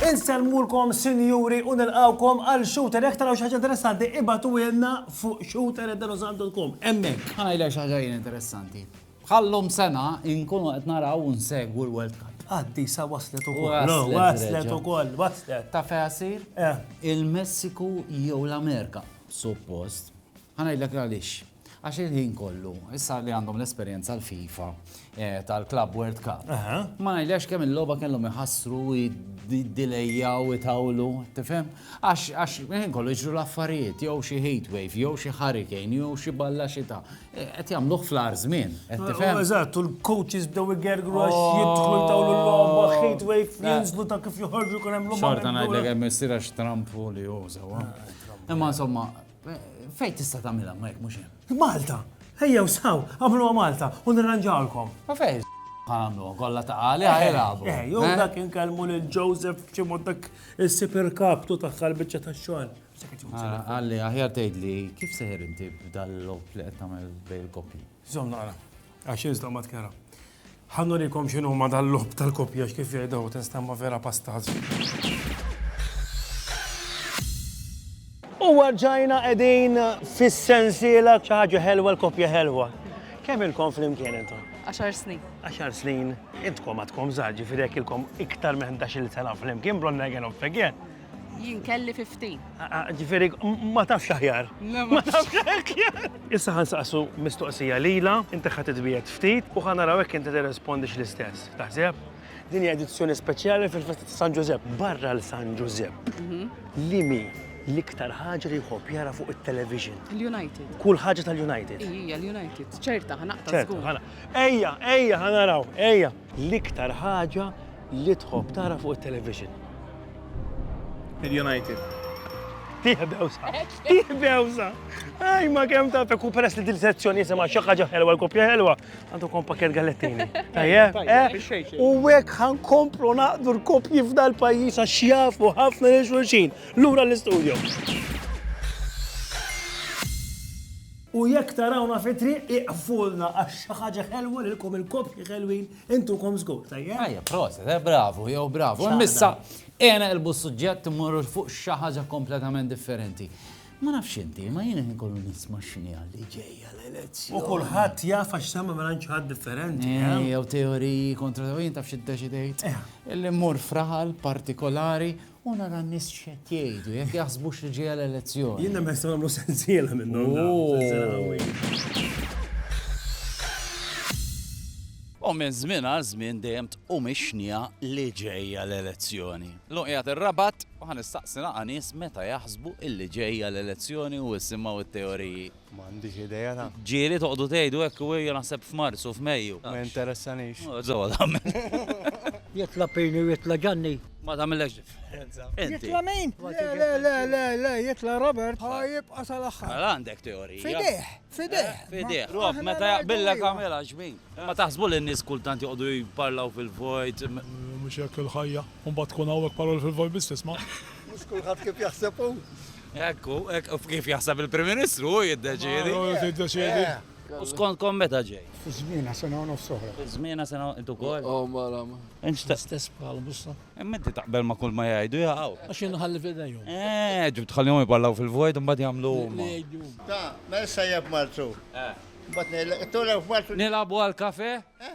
Insellmulkom sinjuri u nilqawkom għal shooter jekk taraw xi ħaġa interessanti ibatu jenna fuq shooter.com. Hemmhekk. Ħanajlek xi ħaġa jien interessanti. Bħal-lum sena inkunu qed naraw u nsegwu l-World Cup. Qaddisa waslet ukoll. Waslet ukoll, waslet. Taf fejn ħassir? Eh. Il-Messiku jew l-Amerika, suppost. Ħa ngħidlek għaliex. Għax il-ħin kollu, issa li għandhom l-esperjenza l-FIFA eh, tal-Club World Cup. Ma ngħidx kemm il-logħba kellhom iħassru id-dilejjaw itawlu, tifhem? Għax il-ħin kollu jiġru l-affarijiet, jew xi heat wave, jew xi hurricane, jew xi balla xita, Qed jagħmluh fl-agħar żmien, qed tifhem? Eżatt, u l-coaches bdew igergru għax oh. jidħlu jtawlu l-logħba, heat wave, jinżlu ta' kif joħorġu kien hemm logħba. Xorta ngħidlek hemm isir għax Trump u li jużaw. Ah, eh. Imma insomma, fejn tista' tagħmilha ma jekk mhux hemm. Malta, ejja u saw, għamluha Malta u nirranġawlkom. Ma fejn għamlu, kolla ta' għali għajrabu. Eh, eh, jow eh? dak inkellmu lil Joseph ċimod dak il-super kaptu ta' xalbicċa ta' xogħol. Għalli, aħjar tgħidli, kif seħer inti b'dal-lob li qed tagħmel bejn il-koppji? Żomm naqra, għax iżda ma tkera. Ħannu rikom x'inhu ma dal-lob tal-koppja x'kif jgħidu testa ma vera pastaz. U warġajna qegħdin fis-sensiela xi ħaġa ħelwa l-koppja ħelwa. Kemm ilkom flimkien intom? Għaxar snin. Għaxar snin, intkom għadkom żgħar ġifieri jekk ilkom iktar minn 11-il sena flimkien bronna again of again. Jien kelli 15. Ah, ah, ġifieri ma tafx aħjar. Ma tafx aħjar. Issa ħan saqsu mistoqsija lila, inti ħadd itbiet ftit u ħan naraw hekk inti tirrespondix l-istess. Taħseb? Din hija edizzjoni speċjali fil-festa ta' San Ġużepp. Barra l San Ġużepp. Mhm. Li mi l-iktar ħaġa li jħobb jara fuq it-television. Il-United. Kull ħaġa tal-United. Ija, l-United. ċerta, ħanaqta. ċerta, ħana. Ejja, ejja, ħanaraw, ejja. L-iktar ħaġa li tħobb tara fuq it-television. Il-United. Tih bewsa. Tih bewsa. Aj, ma kem ta' fekku peress li dil-sezzjoni jisema xaħġa ħelwa, l-kopja ħelwa, għandu kom pakket gallettini. Tajja, eh? U għek ħan komplu naqdu l-kopji f'dal pajis għax jafu ħafna li xulxin. Lura l-istudio. U jekk tarawna fit-triq ieqfulna għax xi ħaġa ħelwa lilkom il-koppji ħelwin intukom żgur, tajjeb? Tajjeb, proset, eh, bravu, jew bravu. Missa, għena elbu s-suġġett immorru fuq xi ħaġa kompletament differenti. Ma nafx inti, ma jiena nkollu nisma' x'inhi għalli ġejja l-elezzjoni. U kulħadd jaf għax semma mela ħadd differenti. Eh, eh? Jew teoriji kontra teoriji taf xi ddeċidejt. Eh. Illi mmur fraħal partikolari U nara n-nies x'qed jgħidu, jekk jaħsbux li ġejja l-elezzjoni. Jien nemmen nistgħu nagħmlu sensiela minnhom dawn, sensiela qawwija. U minn żmien għal żmien dejjem tqum ix-xniegħa li ġejja l-elezzjoni. Illum qiegħed ir-Rabat u ħa nistaqsi naqa' nies meta jaħsbu illi ġejja l-elezzjoni u jsimgħu t-teoriji. Ma għandix idea ta'. Ġieli toqgħodu tgħidu hekk u ejja naħseb f'Marzu, f'Mejju. Ma jinteressanix. Żewwa tagħmel. Jitla' Pini u jitla' Ġanni. Ma tagħmillekx differenza. Jitla' min? Le, le, le, le, le, jitla' Robert ħa jibqa' sal-aħħar. Mela għandek teorija. F'idejh, f'idejh. F'idejh. Rob, meta jaqbillek agħmilha x'bin. Ma taħsbu li n-nies kultant joqogħdu jparlaw fil-vojt? Mhux hekk il-ħajja. U mbagħad tkun hawn hekk paroli fil-vojt biss tisma'. Mhux kulħadd kif jaħseb hu. Hekk hu, hekk hu kif jaħseb il-Prim Ministru, hu jiddeċiedi. Hu jiddeċiedi. U skontkom meta ġej? Fiż-żmienha sena u nofs oħra. Fiż-żmienha sena int ukoll? Oh, mara. Inxtaq. Stess bħal bussa. Imma inti taqbel ma' kull ma jgħidu jaqgħu. Għax jien nħalli f'idejhom. Eh, ġib tħallihom jipparlaw fil-vojt imbagħad jagħmlu huma. Ta, mela sajjeb marzu. Eh. Mbagħad ngħidlek, tolgħu f'Marzu. Nilagħbu għall-kafe? Eh?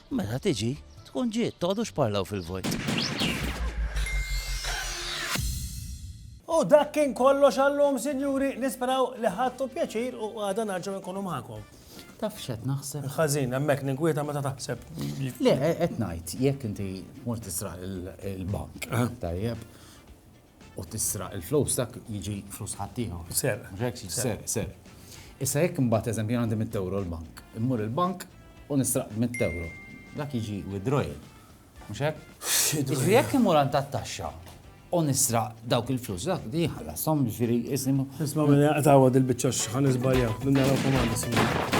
Meta tiġi, tkun ġiet, toqgħodux parlaw fil-vojt. U dak kien kollox għallum, sinjuri, nisperaw li ħadtu pjaċir u għada narġaw nkunu maħkom. Taf xed naħseb? Ħażin, hemmhekk ninkwieta meta taħseb. Le, qed ngħid, jekk inti mur tisraq il-bank, eh. tajjeb, u tisraq il-flus dak jiġi flus ħaddieħor. Serq. Mhux hekk jiġi serq, serq. Issa jekk imbagħad eżempju jien għandi mitt ewro l-bank, immur il-bank u nisraq mitt ewro, dak jiġi withdrawal. Mhux hekk? Jiġifieri jekk immur għand tat-taxxa u nisraq dawk il-flus, dak li jħallasom jiġifieri isni. Isma' minn jaqtgħu dil-biċċa x'ħan iżbaljaw, minn naraw komandi.